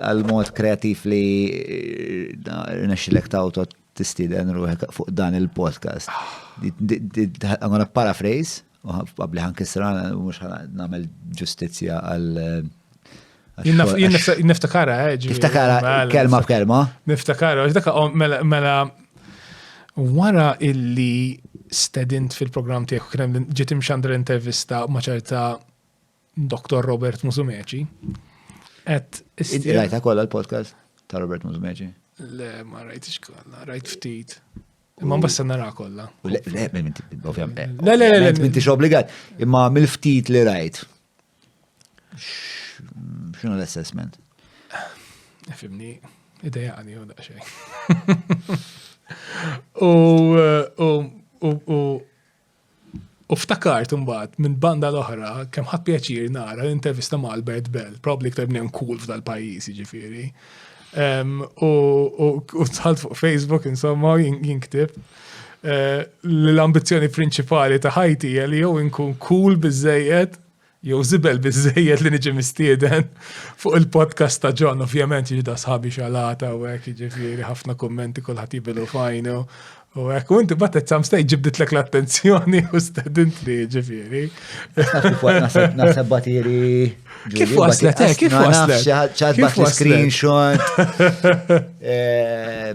Għall-mod kreattiv li rnexxilek tawto tistieden ruħek fuq dan il-podcast. I'm gonna paraphrase, u qabli ħan kisra, mux namel ġustizja għal. Niftakara, eh, ġi. Niftakara, mela, kelma b'kelma. Niftakara, għax daka, mela, mela, wara illi stedint fil-program tiegħek kien ġiet imxandra intervista ma' ċerta Dr. Robert Musumeci. Et istir. Rajta kolla l-podcast ta' Robert Musumeci? Le, ma rajtix kolla, rajt ftit. Imma basta nara kolla. Le, le, ovvjament. Le, le, le. Minti obbligat. Imma mill-ftit li rajt. Xinu l-assessment? Fimni, ideja għani u daqxej. U, u, u, U ftakart imbagħad, minn banda l-oħra, kemm ħadt pjaċir nara l-intervista ma' Albert Bell, probably iktar bniem cool f'dal-pajjiż, jiġifieri. Ehm, u tħalt fuq Facebook, insomma, jinktib eh, l-ambizzjoni prinċipali ta' ħajti hija li jew inkun cool biżejjed Jew żibel biżżejjed li niġi mistieden fuq il-podcast ta' John, ovvjament jiġda sħabi xalata u hekk jiġifieri ħafna kummenti kulħadd jibilu fajnu. U hekk u inti batet sam stej ġibditlek l-attenzjoni u stedint li jiġifieri. Naħseb batiri. Kif waslet, eh, kif waslet? ċat bat screenshot. Eh,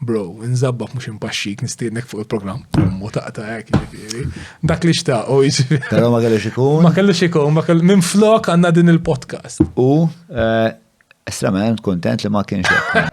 Bro, nżabbak mux impaxxik nistiednek fuq il-programm pummu taqta' hekk jiġifieri. Dak li xtaq u jiġifieri. Però ma kellux ikun. Ma kellux ikun, ma kellux minn flok għandna din il-podcast. U eh, estremament kontent li ma kienx hekk.